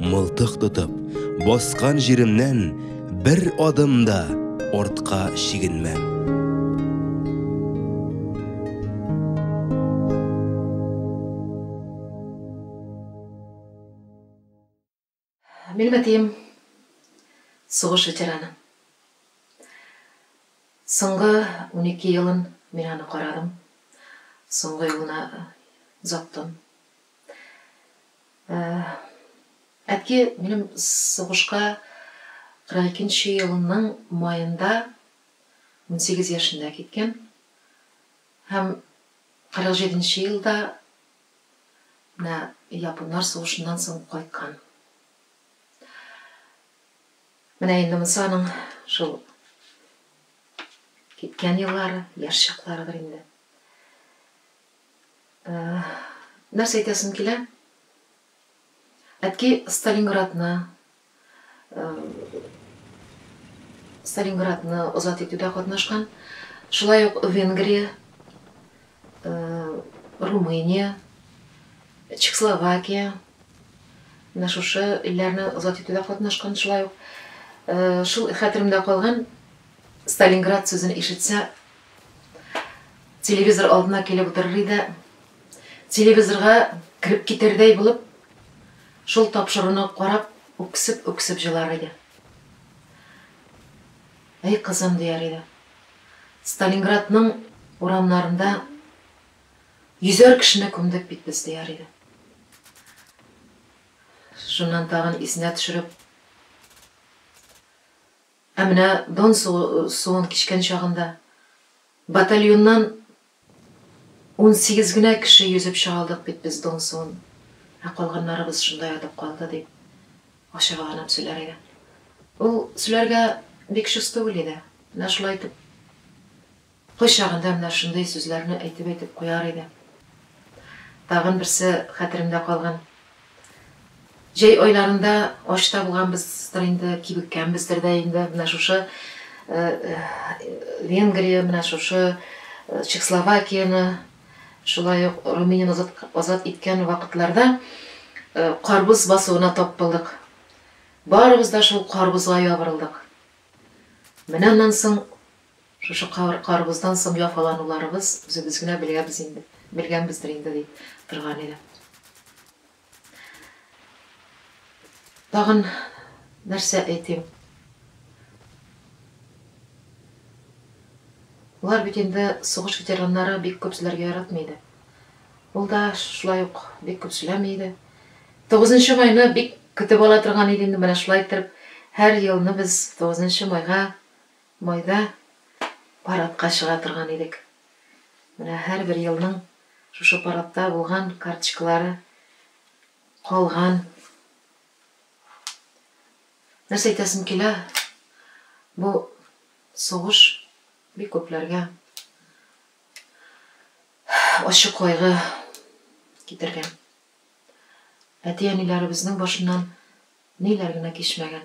Мылтык тотып, баскан җиремнән бер адым да артка чигенмәм. Минем әтием сугыш ветераны. Соңгы 12 елын мин аны карадым. Соңгы юлына озаттым. Әтки минем сугышка 42 нче елның маенда, унсигез яшендә киткән һәм 47 нче елда менә японнар сугышыннан соң кайткан. Менә инде монсы аның шул киткән еллары, яшь чакларыдыр инде. Нәрсә әйтәсем килә? Әтки Сталинградны, Сталинградны азат итүдә катнашкан, шулай ук Венгрия, Румыния, Чехословакия, менә шушы илләрне азат итүдә катнашкан, шулай ук шул хәтеремдә калган Сталинград сүзен ишетсә, Телевизор алдына килеп утырыр иде. Телевизорга кереп китердәй булып, шул тапшыруны карап, үксеп-үксеп җылар иде. Әй, кызым, дияр иде. Сталинградның урамнарында йөзәр кешене күмдек бит без, дияр иде. Шуннан тагын исенә төшереп, Ә менә Дон суын кичкән чагында батальоннан унсигез генә кеше йөзеп чыга алдык бит без Дон суын, ә калганнарыбыз шунда ятып калды, дип ачыгаланып сөйләр иде. Ул сөйләргә бик чус түгел иде. Менә шулай итеп Кайчагында менә шундый сүзләрне әйтеп-әйтеп куяр иде. Тагын берсе хәтеремдә калган. Җәй айларында ач та булганбыздыр инде, кибеккәнбездер дә инде, менә шушы Венгрия, менә шушы Чехословакияне, шулай ук Румынияне азат иткән вакытларда карбыз басуына тап булдык. Барыбыз да шул карбызга ябырылдык. Менә аннан соң Шушы кар, карыбыздан соң яфалануларыбыз үзебез генә беләбез инде, белгәнбездер инде, ди торган иде. Тагын нәрсә әйтим? Болар бит инде сугыш ветераннары бик күп сүләргә яратмый иде. Ул да шулай ук бик күп сүләми иде. 9 майны бик көтеп ала торган иде инде, менә шулай итеп, һәр елны без 9 майга Майда парадка чыга торган идек. Менә һәрбер елның шушы парадта булган карточкалары калган. Нәрсә әйтәсем килә, бу сугыш бик күпләргә ачы кайгы китергән. Әти-әниләребезнең башыннан ниләр генә кичмәгән.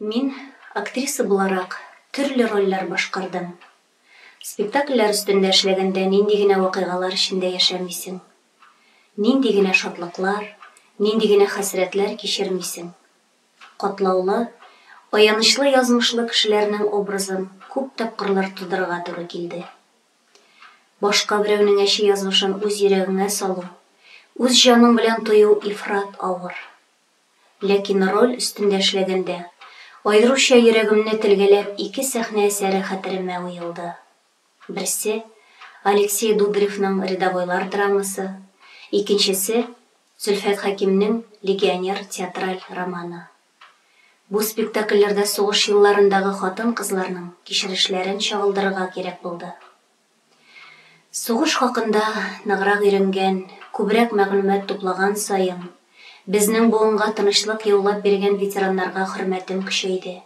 Мин, актриса буларак, төрле рольләр башкардым. Спектакльләр өстендә эшләгәндә нинди генә вакыйгалар эчендә яшәмисең. Нинди генә шатлыклар, нинди генә хәсрәтләр кичермисең. Катлаулы, аянычлы язмышлы кешеләрнең образын күп тапкырлар тудырырга туры килде. Башка берәүнең әче язмышын үз йөрәгеңә салу, үз җаның белән тою ифрат авыр. Ләкин роль өстендә эшләгәндә, аеруча йөрәгемне телгәләп ике сәхнә әсәре хәтеремә уелды. Берсе, Алексей Дударевның Рядовойлар драмасы, икенчесе, Зөлфәт Хәкимнең Легионер театраль романы. Бу спектакльләрдә сугыш елларындагы хатын-кызларның кичерешләрен чагылдырырга кирәк булды. Сугыш хакында ныграк өйрәнгән, күбрәк мәгълүмат туплаган саен, безнең буынга тынычлык яулап биргән ветераннарга хөрмәтем көчәйде,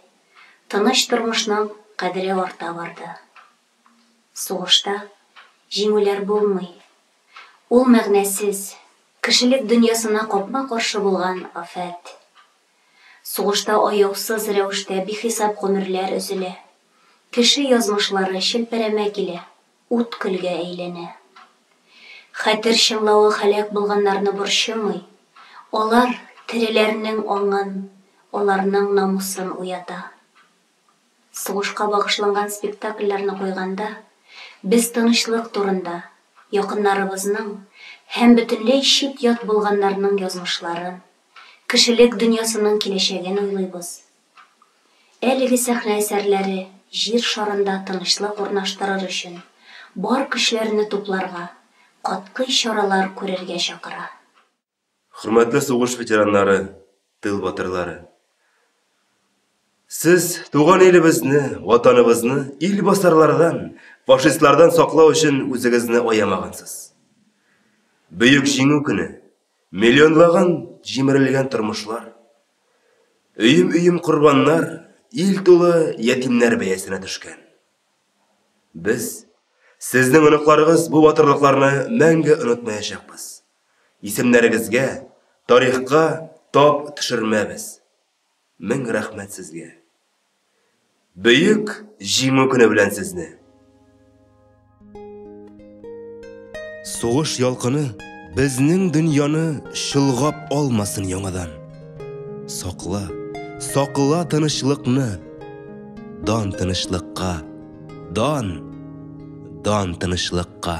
тыныч тормышның кадере арта барды. Сугышта җиңүләр булмый. Ул мәгънәсез, кешелек дөньясына капма-каршы булган афәт. Сугышта аяусыз рәвештә бихисап гомерләр өзелә. Кеше язмышлары челпәрәмә килә, ут-көлгә әйләнә. Хәтер чыңлавы һәлак булганнарны борчымый, алар тереләрнең аңын, аларның намусын уята. Сугышка багышланган спектакльләрне куйганда, без тынычлык турында, якыннарыбызның һәм бөтенләй чит-ят булганнарның язмышларын, Кешелек дөньясының киләчәген уйлыйбыз. Әлеге сәхнә әсәрләре Җир шарында тынычлык урнаштырыр өчен бар көчләрне тупларга, катгый чаралар күрергә чакыра. Хөрмәтле сугыш ветераннары, тыл батырлары! Сез туган илебезне, Ватаныбызны илбасарлардан, фашистлардан саклау өчен үзегезне аямагансыз. Бөек Җиңү көне! Миллионлаган җимерелгән тормышлар, өем-өем корбаннар ил тулы ятимнәр бәясенә төшкән. Без, сезнең оныкларыгыз бу батырлыкларны мәңге онытмаячакбыз. Исемнәрегезгә, тарихка тап төшермәбез. Мең рәхмәт сезгә! Бөек Җиңү көне белән сезне! Сугыш ялкыны безнең дөньяны чолгап алмасын яңадан. Сакла, сакла тынычлыкны! Дан тынычлыкка! Дан! Дан тынычлыкка!